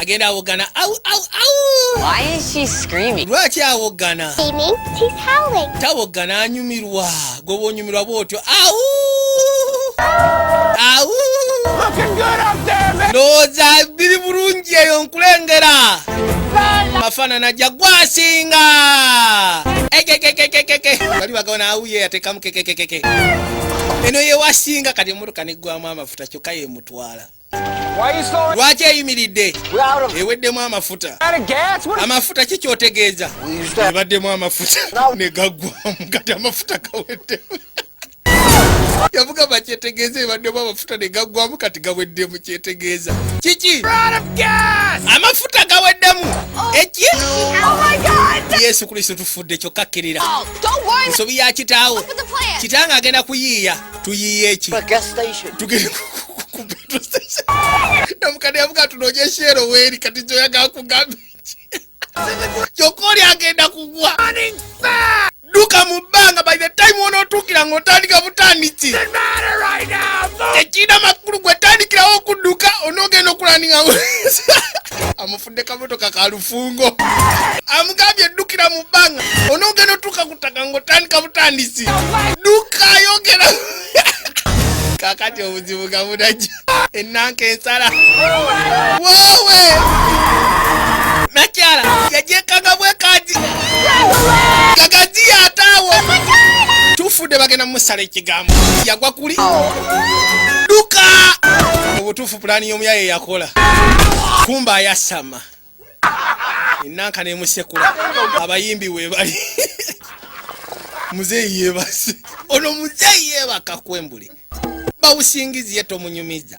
agenda awoggana au au au Why is she screaming? lwaki awoggana Screaming, she's howling. tawoggana anyumirwa gwe bwonyumirwa bwotyo au au ndowooza biri bulungi eyo nkulengera mafaanana ja gwasinga ekekekekekeke bali bagabana awuye yatekamu kekekekeke eno yewasinga kati emotoka neggwamu amafuta kyokka yemutwala lwaki eyimiridde eweddemu amafuta amafuta ki kyotegeeza ebaddemu amafuta ne gaggwamu kati amafuta gaweddemu yavuga bakyetegeeza ebaddemu amafuta ne gaggwamu kati gaweddemu kyetegeeza kiki amafuta gaweddemu oh, eki oh yesu kristo tufudde kyokka kkirira oh, nsobi ya kitaawo kitanga agenda kuyiiya tuyiye eki tugende ku petrol station nomukadde yavuga tunonyesha ero weeri kati kyoyagaa kugamba eki kyokka oli agenda kugwa duka mu bbanga by the time wonootuukira ng'otandika butandiki tekirina makulu gwetandikirawo okudduka onoogenda okulandinga ne kamotoka ka lufungo amugambye eddukira mu bbanga onoogenda otuuka ku ttaka ng'otandika butandisi dduka ayogera kakati obuzibu nga bunajja ennanka ensala woowe nakyala yagyekanga bwekaji kagaji yataawo tufudde bagenda musala ekigambo yagwa kuli duka obutufu pulaani y'omuyaye yakola kumba ayasama enanka nemusekula abayimbi webali muzeeyi yebase ono muzeeyi yebaka kwembuli bawusingizi ye tomunyumiza